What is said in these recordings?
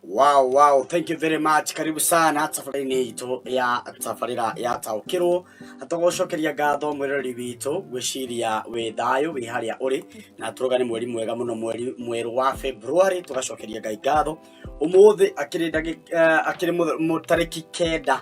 Wow, wow, thank you very much. Karibu sana tafariini itũ ya tabarĩra ya taũkĩrwo tũgũcokeria ngatho mwĩrori witũ gwĩciria wĩ thayũ wĩ harĩa ũrĩ na tũroga nĩ mweri mwega mũno mweri mwerũ wa February tũgacokeria Ngai ngatho ũmũthĩ akĩrĩ ndagĩ- eh, akĩrĩ mũth- mũ- tarĩki kenda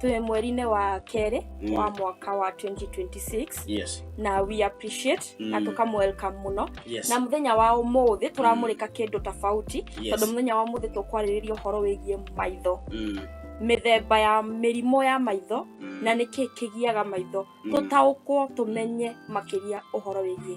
twĩ mweri-inĩ wa kerĩ Mm. wa mwaka wa 2026 yes na we appreciate Mm. na tũkamwelcome mũno yes na mũthenya wa ũmũthĩ tũramũrĩka kĩndũ tofauti tondũ yes mũthenya wa ũmũthĩ tũkwarĩrĩria ũhoro wĩgiĩ maitho Mm, mĩthemba ya mĩrimũ ya maitho mm, na nĩkĩ kĩgiaga maitho Mm. tũtaũkwo tũmenye makĩria ũhoro wĩgiĩ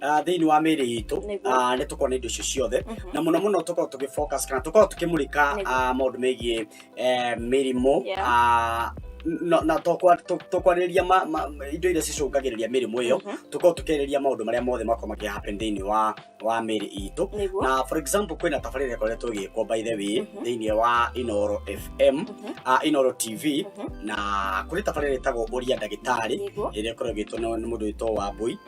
ah, thĩinĩ wa mĩĩrĩ itũ Nĩguo. ah, nĩ tũkorwo na indo icio ciothe Mhm. na mũno mũno tũkorwo tũgĩ focus kana tũkorwo tũkĩmũrĩka Nĩguo. ah, maũndũ megiĩ eh, mĩrimũ Yeah. ah, na na tũkwa- tũ- tũkwarĩrĩria ma- ma- ma- indo iria cicũngagĩrĩria mĩrimũ ĩyo Mhm. tũkorwo tũkĩarĩrĩria maũndũ marĩa mothe makorwo makĩ happen thĩinĩ wa wa mĩĩrĩ itũ Nĩguo. na for example kwĩna tabarĩra ĩkoretwo ĩgĩkwo by the way Mhm. thĩinĩ wa inoro fm Mhm. ah, inoro tv Mhm. na kũrĩ tabarĩra ĩtagwo ũria ndagĩtarĩ Nĩguo. ĩrĩa ĩkoragwo ĩgĩtwo nĩ nĩ mũndũ wĩtwo wambui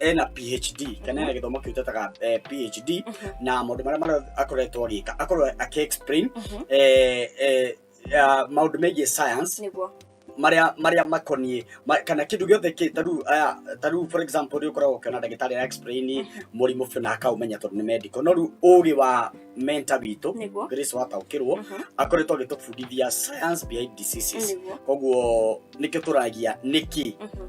ena phd kana ena gĩthomo kĩu tetaga eh, phd Mhm. na maũndũ marĩa marĩa akoretwo agĩka akorwo akĩexplain Mhm. eh, eh, ah, maũndũ megiĩ science nĩguo marĩa marĩa makoniĩ ma- kana kĩndũ gĩothe kĩ tarĩu aya tarĩu for example rĩu ũkoragwo ũkĩona ndagĩtarĩ ya explain mũrimũ biũ na akaũmenya tondũ nĩ medical no rĩu ũũgĩ wa menta witũ nĩguo grace wataũkĩrwo Mhm. akoretwo agĩtũbundithia science behind diseases nĩguo koguo nĩkĩo tũragia nĩkĩ Mhm.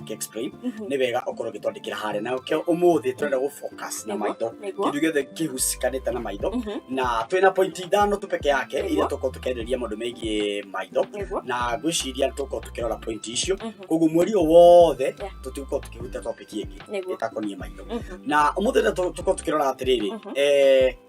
Gĩ explain Mhm. nĩ wega okorwo gĩtwandĩkĩra harĩa na kĩo ũmũthĩ tũrenda gũ focus na Nĩguo, maitho nĩguo. kĩndũ gĩothe kĩhucikanĩte na maitho Mhm. na twĩna pointi ithano tu peke yake Nĩguo. iria tũkorwo tũkĩarĩrĩria maũndũ megiĩ maitho Nĩguo. na ngwĩciria nĩ tũkorwo tũkĩrora pointi icio Mhm. koguo mweri o wothe Yeah. tũtigũkorwo tũkĩhutia topic ĩngĩ Nĩguo. ĩtakoniĩ maitho Mhm. na ũmũthĩ nĩ tũkorwo tũkĩrora atĩrĩrĩ Mhm. eh,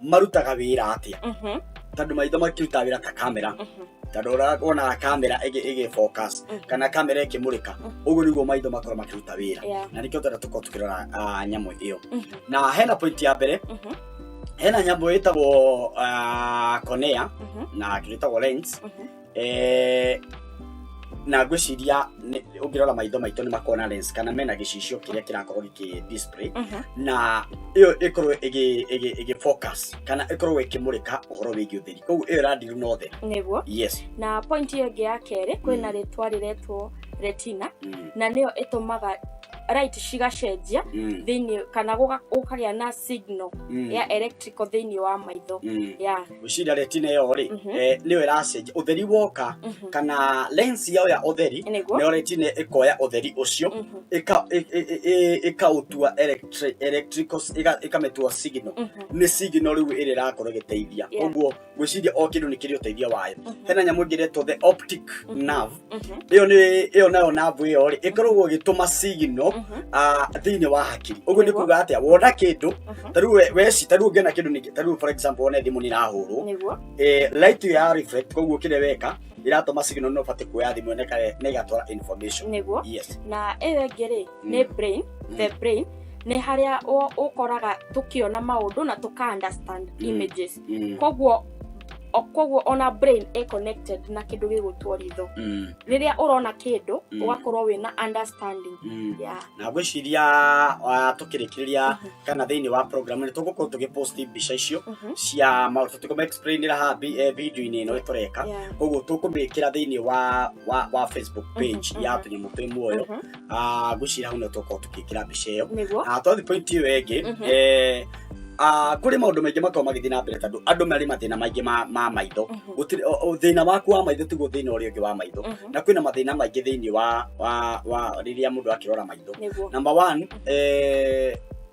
marutaga wĩra atĩa Mhm, tondũ maitho makĩrutaga wĩra ta kamera mhm, tondũ ũra- wonaga kamera ĩgĩ- ĩgĩ focus Mhm. kana kamera ĩkĩmũrĩka Mhm. ũguo nĩguo maitho makorwo makĩruta wĩra yeah, na nĩkĩo twenda tũkorwo tũkĩrora ah, nyamũ ĩyo mhm, na hena point ya mbere mhm, hena nyamũ ĩtagwo ah, konea mhm, na kĩrĩtagwo lens mhm. eh, na ngwĩciria nĩ- ũngĩrora maitho maitũ nĩ makona lens kana mena gĩcicio kĩrĩa kĩrakorwo gĩkĩ display Mhm. na ĩyo ĩkorwo ĩgĩ- ĩgĩ- ĩgĩ focus kana ĩkorwo ĩkĩmũrĩka ũhoro wĩgiĩ ũtheri koguo ĩyo ĩrandiru na ũtheri nĩguo yes na point ĩyo ĩngĩ ya kerĩ kwĩna rĩtwa rĩretwo retina Mm, na nĩyo ĩtũmaga right cigacenjia mm, thĩinĩ kana gũga- gũkagĩa na signal mm, ya electrical thĩinĩ wa maitho mm. ya gwĩciria retina ĩyo rĩ Mhm. eh, nĩyo ĩracenjia ũtheri woka Mhm. kana lens yao ya ũtheri Nĩguo. nĩyo retina ĩkoya ũtheri ũcio Mhm. ĩka- ĩ- ĩ- ĩ- ĩ- ĩkaũtua electri- electrical ĩga- ĩkamĩtua signal Mhm. nĩ signal rĩu ĩrĩa ĩrakorwo ĩgĩteithia Yeah. ũguo gwĩciria o kĩndũ nĩ kĩrĩ ũteithio wayo Mhm. hena nyamũ ĩngĩ ĩretwo the optic Mhm. nerve ĩyo nĩ ĩyo nayo navu ĩyo rĩ ĩkoragwo ĩgĩtũma sigino thĩinĩ wa hakiri ũguo nĩ kuga atĩa wona kĩndũ tarĩu we- weci tarĩu ũngĩona kĩndũ ningĩ tarĩu for example wone thimũ nĩ irahũrwo nĩguo eh, light ya reflect koguo kĩrĩa weka ĩratũma sigino nĩ ũbatiĩ kuoya thimũ ĩno ĩka- na ĩgatwara information nĩguo yes na ĩyo ĩngĩ rĩ Mm. nĩ brain Mm. the brain nĩ harĩa ũ- ũkoraga tũkĩona maũndũ na tũka understand Mm. images Mm. koguo o- koguo ona brain e connected na kĩndũ gĩgũtwo ritho Mm. rĩrĩa ũrona kĩndũ Mm. ũgakorwo wĩna understanding Mm. yeah. na ngwĩciria ah, tũkĩrĩkĩrĩria Mhm. kana thĩinĩ wa program nĩ tũgũkorwo tũgĩposti mbica icio Mhm. cia maũndũ tũkũmaexplainĩra haha bi- eh, video-inĩ ĩno ĩtũreka Yeah. koguo tũkũmĩkĩra thĩinĩ wa wa wa facebook page Mhm, ya mhm. tũnyamũ twĩ muoyo Mhm. ah, ngwĩciria hau nĩ tũkorwo tũkĩkĩra mbica ĩyo nĩguo Ah, twathiĩ point ĩyo ĩngĩ Mhm. eh, ah, kũrĩ maũndũ maingĩ makorwo magĩthiĩ na mbere tondũ andũ marĩ mathĩna maingĩ ma- ma maitho Mhm. Gũtirĩ- o- o- thĩna waku wa maitho tiguo thĩna ũrĩa ũngĩ wa maitho Mhm. na kwĩna mathĩna maingĩ thĩinĩ wa wa wa rĩrĩa mũndũ akĩrora maitho nĩguo number one eh,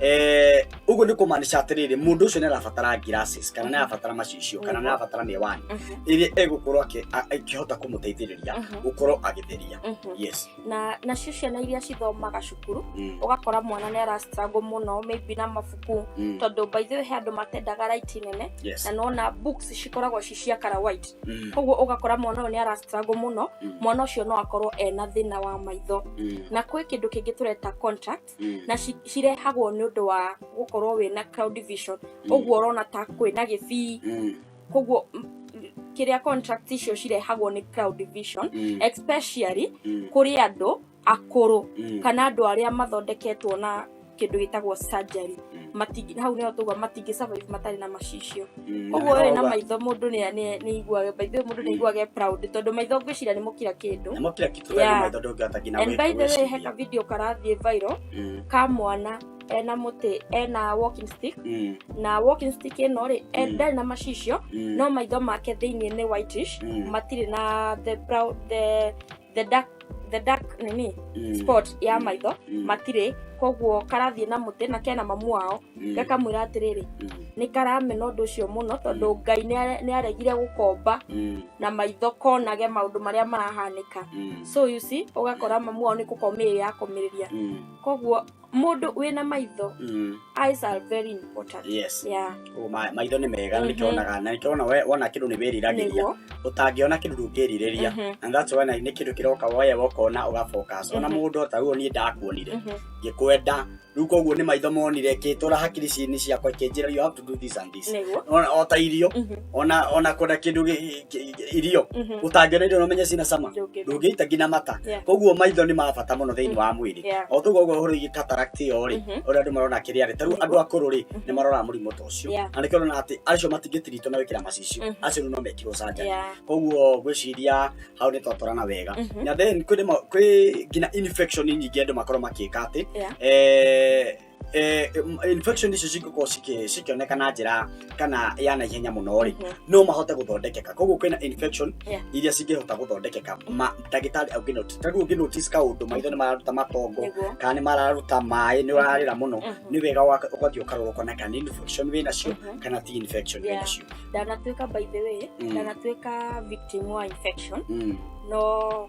eh, uguo nä kå maanisha atä rä rä må ndå å cio nä arabatara ngiracis kana nä arabatara macicio kana nä arabatara mä wani Mhm, ä rä a egå korwo akä hota kå må teithä rä ria Mhm. gå korwo agä theria mhm. yes na nacio ciana iria cithomaga cukuru Mm, ũgakora mwana nĩ arastruggle mũno maybe na mabuku mm, tondũ by the way he andũ matendaga right nene yes na nona books cikoragwo ci cia kara white Mm, koguo ũgakora mwana ũyũ nĩ arastruggle mũno mm, mwana ũcio no akorwo ena thĩna wa maitho mm, na kwĩ kĩndũ kĩngĩ tũreta contract Mm. na ci- cirehagwo nĩ ũndũ wa gũkorwo wĩ na cloud division Mm. ũguo ũrona ta kwĩ na gĩbii Mm. koguo m- m- kĩrĩa contract icio cirehagwo nĩ cloud division Mm. especially Mm. kũrĩ andũ akũrũ Mm. kana andũ arĩa mathondeketwo na kĩndũ gĩtagwo surgery Mm. matingi hau nĩho tũgua matingĩ survive matarĩ na macicio Mm, na ũguo we na nĩho ba- maitho mũndũ nĩ- nĩ- nĩ aiguaga by the way mũndũ nĩ aiguaga e proud tondũ maitho ngwĩciria nĩ mũkira kĩndũ namo kila kitu Yeah. yeah. maitho ndũngĩhota nginya and by the way gwĩciria. he ka video karathiĩ viral Mm, ka mwana ena mũtĩ ena walking stick mm, na walking stick ĩno rĩ Mm. ndarĩ na macicio mm, no maitho make thĩinĩ nĩ whitish mm. matirĩ na the brown the the dark the dark nini Mm. spot ya maitho Mm. matirĩ koguo karathiĩ na mũtĩ na kena mamu wao Mm. gakamwĩra atĩrĩrĩ Mm. nĩ karamena ũndũ ũcio mũno tondũ ngai nĩare- nĩaregire gũkomba Mm. na maitho konage maũndũ marĩa marahanĩka Mm. so you see ũgakora mamu wao nĩ kũkomĩrĩria akomĩrĩria Mm. koguo mundu wina maitho Mm. eyes are very important yes yeah Ũguo ma- maitho nĩ mega Mhm. nĩkĩonaga na nĩkĩona we- wona kĩndũ nĩ wĩriragĩria niguo ũtangĩona kĩndũ ndũngĩrirĩria Mhm. and that's why na- nĩ kĩndũ kĩroka woya wokona ũgafocus ona Mhm. mũndũ ta ruo niĩ ndakuonire Mhm. ngĩkwenda rĩu koguo nĩ maitho monire kĩtũra hakiri ci- nĩ ciakwa ikĩnjĩra you have to do this and this Nĩguo. ona ota irio Mhm. ona ona kwenda kindu gi- gi- gi- irio Mhm. utangĩona irio nomenye cina cama Ndũngĩrĩa. ndũngĩita nginya mata Yeah. koguo maitho nĩ ma bata mũno thĩinĩ wa mwĩrĩ Yeah. o tũguo ũguo ũhoro igi cataract ĩyo rĩ Mhm. ũrĩa andũ marona kĩrĩa rĩ tarĩu andũ akũrũ rĩ nĩ maroraga mũrimũ ta ũcio Yeah. na nĩkĩo ũrona atĩ acio matingĩtiritwo na gwĩkĩra macicio Mhm. acio rĩu no mekirwo canjani Yeah. koguo ngwĩciria hau nĩ twatwarana wega Mhm. na then kwĩ rĩmwe- kwĩ nginya infection nyingĩ andũ makorwo makĩka atĩ Yeah. eh, eh, infection icio cingĩkorwo cikĩ- cikĩoneka na njĩra kana ya na ihenya mũno rĩ Mhm. no mahote gũthondekeka koguo kwĩna infection Yeah. iria cingĩhota gũthondekeka Ma- ndagĩtarĩ angĩnoti ta rĩu ũngĩnotisi kaũndũ maitho nĩ mararuta matongo Nĩguo. kana nĩ mararuta maĩ nĩ ũrarĩra mũno Mhm. nĩ wega waka- ũgathiĩ ũkarora ũkona kana nĩ infection wĩ nacio Mhm. kana ti infection wĩ Yeah. nacio ndanatuĩka by the way Mm. ndanatuĩka victim wa infection Mm. no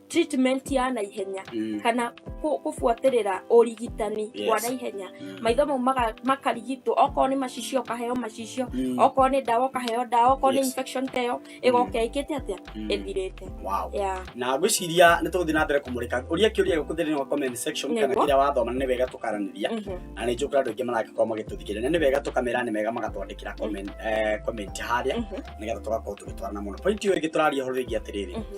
treatment ya naihenya Mm. kana kũ- kũbuatĩrĩra ũrigitani Yes. wa naihenya Mm. maitho mau maga- makarigitwo okorwo nĩ macicio ũkaheo macicio Mm. okorwo nĩ ndawa ũkaheo ndawa okorwo nĩ Yes. infection teyo ĩgoka ĩkĩte atĩa Mm. ĩthirĩte Wow. Yeah. na ngwĩciria nĩ tũgũthiĩ na mbere kũmũrĩka ũria kĩũria gĩkũ thĩinĩ wa comment section kana Nĩguo. kĩrĩa wathoma nĩ wega tũkaranĩria Mhm. na nĩ njũkĩra andũ aingĩ maragĩkorwo magĩtũthikĩrĩria nĩ wega tũkamera nĩ wega magatwandĩkĩra comment- eh, comment harĩa Mhm. nĩgetha tũgakorwo tũgĩtwarana mũno point ĩyo ĩngĩ tũraria ũhoro wĩgiĩ atĩrĩrĩ Mhm.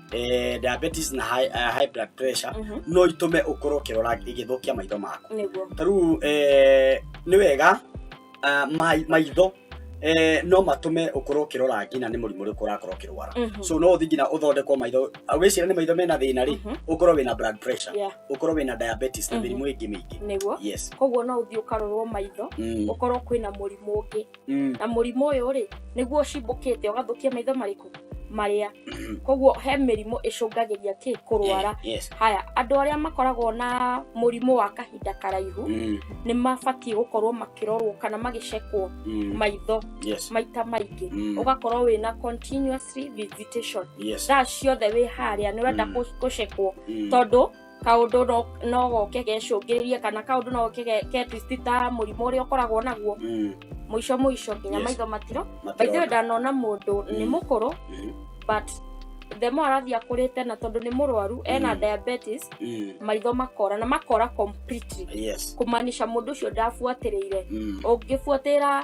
eh, diabetes na high, uh, high blood pressure Mhm. no itume ukorwo ukirora igithukia maitho maku niguo tariu eh, nĩ wega ah, mai- maitho eh, no matume ukorwo ukirora nginya nĩ mũrimũ ũrĩkũ ũrakorwo ukirwara Mhm. so no uthi nginya uthondekwo maitho Ah, wĩcira nĩ maitho mena thĩna rĩ Mhm. ukorwo wĩna blood pressure Yeah. ukorwo wĩna diabetes na Mhm. mĩrimũ ĩngĩ mĩingĩ niguo yes koguo no ũthiĩ ũkarorwo maitho Mm. ũkorwo kwĩna mũrimũ ũngĩ Mm. na mũrimũ ũyũ rĩ nĩguo ũcimbũkĩte ũgathũkia maitho marĩkũ marĩa koguo he mĩrimũ ĩcũngagĩria kĩ kũrwara Eh, yes. haya andũ arĩa makoragwo na mũrimũ wa kahinda karaihu Mm, nĩ mabatiĩ gũkorwo makĩrorwo kana magĩcekwo mm, maitho yes. maita maingĩ Mm, ũgakorwo wĩna continuously visitation yes. thaa ciothe wĩ harĩa nĩ ũrenda Mm. kũ- gũcekwo Mm, tondũ kaundu no- no goke gecũngĩrĩrie kana kaundu no goke ge- ke twist ta mũrimũ ũrĩa ũkoragwo naguo Mm, mũico mũico nginya Yes. maitho matiro matirona. baithiwe ndanona mũndũ nĩ Mm. mũkũrũ Mm, but the more arathiĩ akũrĩte na tondũ nĩ mũrwaru ena Mm. diabetes mm, maitho makora na makora completely yes. kumaanisha mũndũ ũcio ndabuatĩrĩire Mm, ũngĩbuatĩra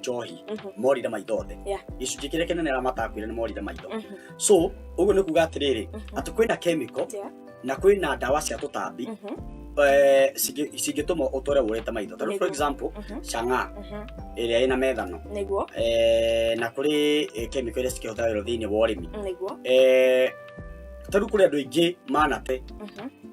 njohi Mhm. morire maitho othe Yeah. gĩcunjĩ kĩrĩa kĩnene arĩa matakuire nĩ morire maitho Mhm. so ũguo nĩ kuga atĩrĩrĩ Mhm. atĩ kwĩna kemiko Yeah. na kwĩna ndawa cia tũtambi Mhm. eh, cingĩ- cingĩtũma ũtore ũrĩte maitho tondũ for Nĩguo. example Mhm. cang'a Mhm. ĩrĩa ĩna methano nĩguo eh, na kũrĩ eh, kemiko iria cikĩhũthagĩrwo thĩinĩ wa ũrĩmi nĩguo Eh, tarĩu kũrĩ andũ aingĩ manate Mhm.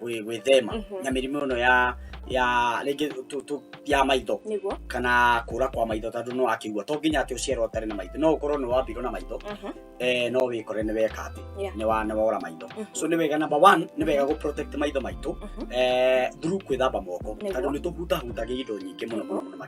gwĩ- gwĩthema Mhm. na mĩrimũ ĩno ya ya rĩngĩ tu- tu- ya maitho niguo kana kũra kwa maitho tondũ no akĩigua to nginya atĩ ũciarwo ũtarĩ na maitho no ũkorwo nĩ wambirwo na maitho Mhm. eh, no wĩkore nĩ weka atĩ Yeah. nĩ wa- nĩ wora maitho Mhm. so nĩ wega number one nĩ wega gũ protect maitho maitũ Mhm. eh, through kwĩthamba moko Nĩguo. tondũ nĩ tũhutahutagia indo nyingĩ mũno mũno mũno makĩria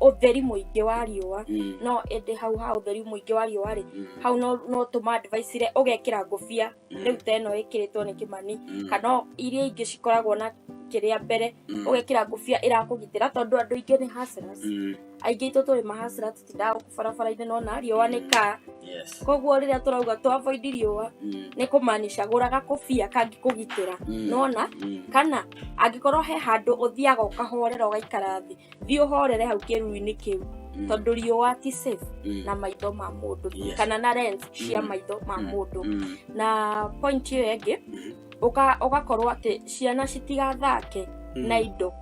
ũtheri mũingĩ wa riũa Mm. no ĩndĩ hau ha ũtheri mũingĩ wa riũa rĩ Mm. hau no no tũma advice ire ũgekĩra ngũbia Mm. rĩu ta ĩno ĩkĩrĩtwo nĩ kĩmani Mm. kana iria ingĩ cikoragwo na kĩrĩa mbere Mm. ũgekĩra ngũbia ĩrakũgitĩra tondũ andũ aingĩ nĩ hustlers Mm. aingĩ itũ tũrĩ mahasra tũtindaga gũkũ barabara-inĩ no na riũa nĩ kaa Yes. koguo rĩrĩa tũrauga to avoid riũa Mm. nĩ kũmaanisha gũraga kũbia kangĩkũgitĩra Mm. nona Mm. kana angĩkorwo he handũ ũthiaga ũkahorera ũgaikara thĩ thiĩ ũhorere hau kĩruru-inĩ kĩu Mm. tondũ riũa ti safe Mm. na maitho ma mũndũ Yes. kana na lens cia Mm. maitho ma Mm. mũndũ Mm. na point ĩyo ĩngĩ Mhm. ũka- ũgakorwo atĩ ciana citigathake Mm. na indo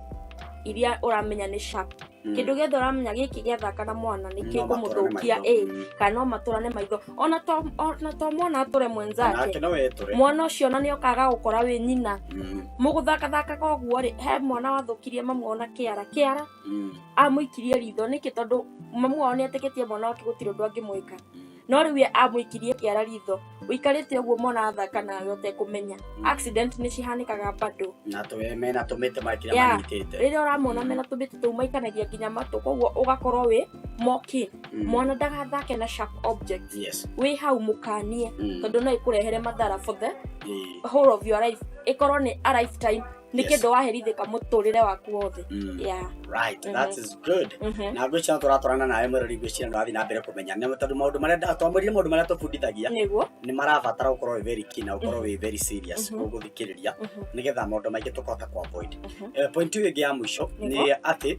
iria ũramenya nĩ sharp Mm. kĩndũ gĩothe ũramenya gĩkĩ gĩathaka na mwana No nĩkĩkũmũthũkia matũrane ĩ maitho. Mm. kana no matũrane maitho ona to ona to mwana atũre nake mwenzake no etũre mwana ũcio ona nĩ okaga gũkora wĩ nyina Mm, mũgũthakathakaga ũguo rĩ he mwana wathũkirie mamu ona kĩara kĩara mm, amũikirie ritho nĩkĩ tondũ mamu wao nĩ etĩkĩtie mwana wake gũtirĩ ũndũ angĩmwĩka mm. no rĩu we amũikirie kĩara ritho ũikarĩte ũguo mwana athaka nawe ũtekũmenya accident nĩ cihanĩkaga bado na tũwe mena tũmĩte makĩrĩa Yeah. manyitĩte rĩrĩa ũramona mena tũmĩtĩ tũu maikanagia nginya matũ koguo ũgakorwo wĩ moke Mm. mwana ndagathake na sharp objects yes wĩ hau mũkanie Mm. tondũ no ĩkũrehere mathara for the Eh, whole of your life ĩkorwo nĩ a lifetime nĩ Yes. kĩndũ waherithĩka mũtũrĩre waku wothe mm. yeah. right that Mhm. is good Mhm. na ngwĩciria no tũratwarana nawe mwĩrori ngwĩciria nĩ wathiĩ na mbere kũmenya nĩ tondũ maũndũ marĩa nda- twamwĩrire maũndũ marĩa tũbundithagia nĩguo nĩ marabatara gũkorwo wĩ very keen na gũkorwo wĩ very serious Mhm. gũthikĩrĩria Mhm. nĩgetha maũndũ maingĩ tũkahota kũ avoid Mhm. Eh, point ĩyo ĩngĩ ya mũico nĩ Nĩguo. atĩ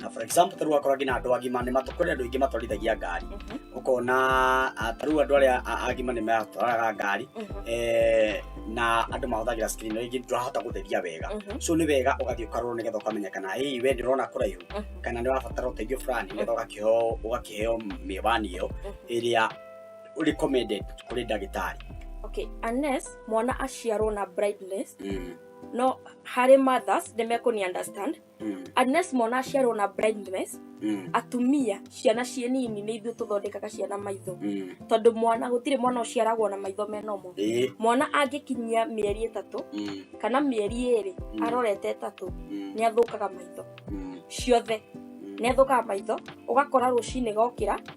na for example tarĩu akorwo nginya andũ agima nĩ matũ- kũrĩ andũ aingĩ matwarithagia ngari Mhm. ũkona ah, tarĩu andũ arĩa a- agima nĩ matwaraga ngari Mhm. eh, na andũ mahũthagĩra screen rĩngĩ ndũrahota gũtheria wega Mhm. so nĩ wega ũgathiĩ ũkarorwo nĩgetha ũkamenya kana hii we ndĩrona kũraihu Mhm. kana nĩ wabatara ũteithio fulani nĩgetha ũgakĩheo ũgakĩheo mĩwani ĩyo ĩrĩa recommended kũrĩ ndagĩtarĩ okay unless mwana aciarwo na blindness Mm. no harĩ mothers nĩ mekũni understand Mm. unless mwana aciarwo na blindness Mm. atumia ciana ciĩ nini nĩ ithuĩ tũthondekaga ciana maitho Mm. tondũ mwana gũtirĩ mwana ũciaragwo na maitho menomo Eh. mwana angĩkinyia mĩeri ĩtatũ Mm. kana mĩeri ĩrĩ Mm. arorete ĩtatũ Mm. nĩ athũkaga maitho Mm. ciothe Mm. nĩ athũkaga maitho ũgakora rũcinĩ gokĩra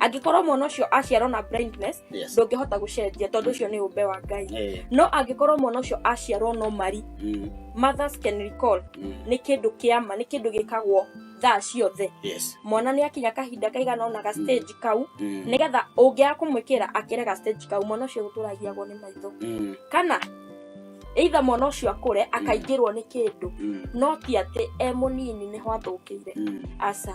angĩkorwo mwana ũcio aciarwo na blindness Yes. ndũngĩhota gũcenjia tondũ ũcio nĩ ũmbe wa ngai Eh, no angĩkorwo mwana ũcio aciarwo no mari mm, mothers can recall mm, nĩ kĩndũ kĩama nĩ kĩndũ gĩkagwo thaa ciothe yes. mwana nĩ akinya kahinda kaigana ona ga stage kau Mm, nĩgetha ũngĩaga kũmwĩkĩra akĩre ga stage kau mwana ũcio gũtũragiagwo nĩ maitho mm, kana either mwana ũcio akũre akaingĩrwo nĩ kĩndũ mm, no ti atĩ e mũnini nĩho athũkĩire mm. aca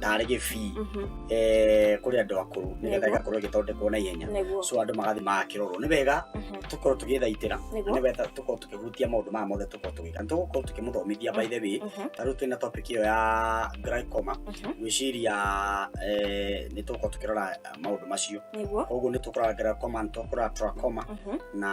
tarä gä bii kå rä andå akå rå nä getha Nĩguo. igakorwo igäthondekwo na ihenya nĩguo so andå magathi magakä rorwo nä wega Mhm. tå korwo tå gä thaitä ra Nĩguo. nä wega tå korwo tå kä hutia maå ndå maya mothe tå korwo tå gä ka nä tå gå korwo tå kä må thomithia by the way Mhm. tarä u twä na topic ä yo ya glaucoma Mhm. gwĩciria eh, nĩ tũgũkorwo tũkĩrora eh, maũndũ macio nĩguo koguo nĩ tũkũrora glaucoma nĩ tũkũrora trachoma Mhm. na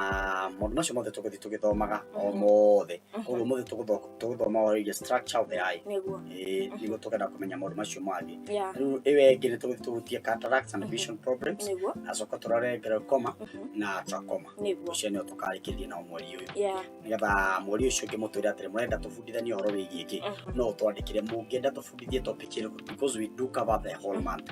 maũndũ macio mothe tũgũthiĩ tũgĩthomaga o Mhm. mothe koguo mũthĩ tũgũthoka tũgũthoma ũhoro wĩgiĩ structure of the eye nĩguo Eh, nĩguo tũkenda kũmenya maũndũ macio mangĩ ya rĩu ĩwe ĩngĩ nĩ tũgũthiĩ tũhutie cataracts and vision problems nĩguo acoka tũrore glaucoma na trachoma nĩguo ũcio nĩo tũkarĩkĩrĩria nao mweri ũyũ ya nĩgetha mweri ũcio ũngĩ mũtwĩre atĩrĩ mũrenda tũbundithanie ũhoro wĩgiĩ kĩ no ũtwandĩkĩre mũngĩenda tũbundithie topic ĩrĩkũ because we do cover the whole month